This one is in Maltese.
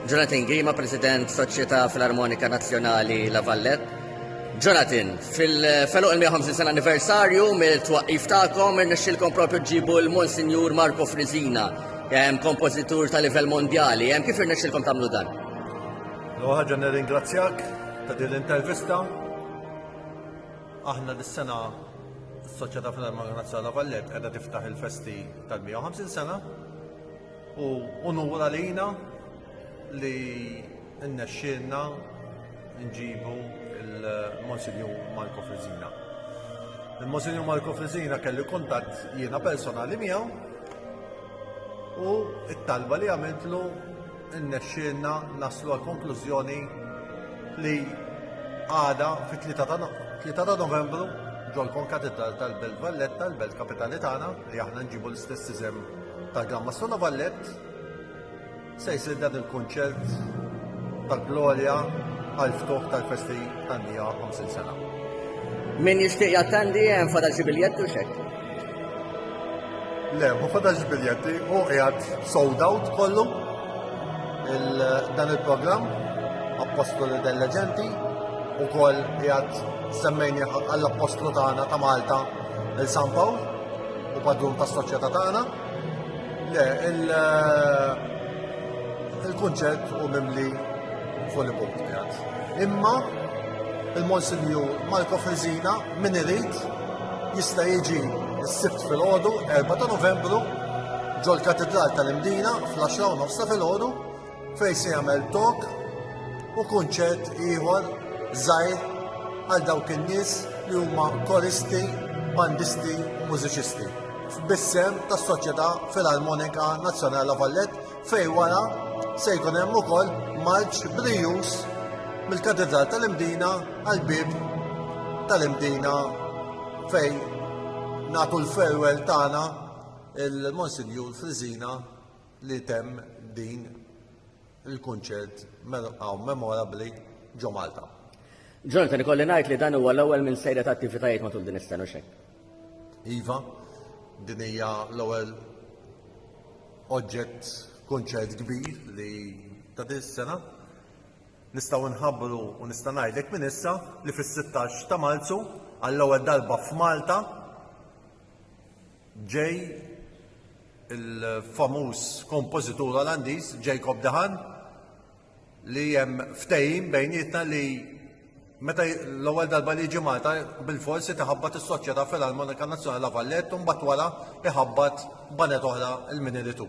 Jonathan Gima, President Soċjetà Filarmonika Nazzjonali La Vallette. Jonathan, fil-feluq il-150 sena anniversarju mill-twaqif tagħkom irnexxilkom propju ġibu l-Monsinjur Marco Frizina, kompożitur ta' livell mondjali. Kif irnexxilkom tagħmlu dan? Ħaġa nirringrazzjak ta' din l-intervista. Aħna dis-sena s-Soċjetà Filarmonika Nazzjonali La Vallette qiegħda tiftaħ il-festi tal-150 sena U unur għalina li nnexxilna nġibu il-Monsinju Marco Frizina. Il-Monsinju Marco Frizina kelli kontatt jiena personali miegħu u it-talba li għamiltlu nnexxilna naslu għal konklużjoni li għada fit-3 ta' novembru ġol konkatidra tal-Belt Valletta, l-Belt Kapitali tagħna, li aħna nġibu l-istess iżem ta' Gamma Sona Ballet se jsir dan il-kunċert tal-glorja għal-ftuħ tal-festi tan-nija 50 sena. Min jixtieq jattendi hemm fada xi biljetti u xek? Le, ma fada xi biljetti u qiegħed sold out kollu dan il-programm Apostoli del Leġenti u koll qiegħed semmejni għall-Apostlu tagħna ta' Malta Il San Pawl u padrun tas soċjetà tagħna. Le, il-kunċett u mimli fuq il-bok Imma il-Monsinju Marko Frizina min irid jista' jiġi s-sibt fil-ħodu 4 ta' novembru ġol katedral tal-Imdina fl-10 nofsa fil-ħodu fejn se jagħmel talk u kunċert ieħor żgħir għal dawk in-nies li huma koristi, bandisti u mużiċisti f'bissem tas-Soċjetà Filarmonika Nazzjonali La Vallett fej wara se jkun hemm ukoll marċ brijus mill-Katedral tal-Imdina għal bib tal-Imdina fej nagħtu l-farewell tagħna il-Monsinjur Frizina li temm din il-kunċert hawn memorabbli ġo Malta. Jonathan, ikolli ngħid li dan huwa l-ewwel minn sejra ta' attivitajiet matul din is-sena xejn. Iva, din hija l-ewwel oġġett kunċert kbir li ta' din is-sena. Nistgħu nħabbru u nista' ngħidlek minn issa li fis-16 ta' Marzu għall-ewwel darba f'Malta Ġej il-famuż kompożitur Olandiż Jacob Dahan li hemm ftehim bejnietna li meta l-ewwel darba li jiġi Malta bil-forsi tiħabbat is-Soċjetà Filarmonika Nazzjonali La Vallette u mbagħad wara iħabbat banet oħra l-min iritu.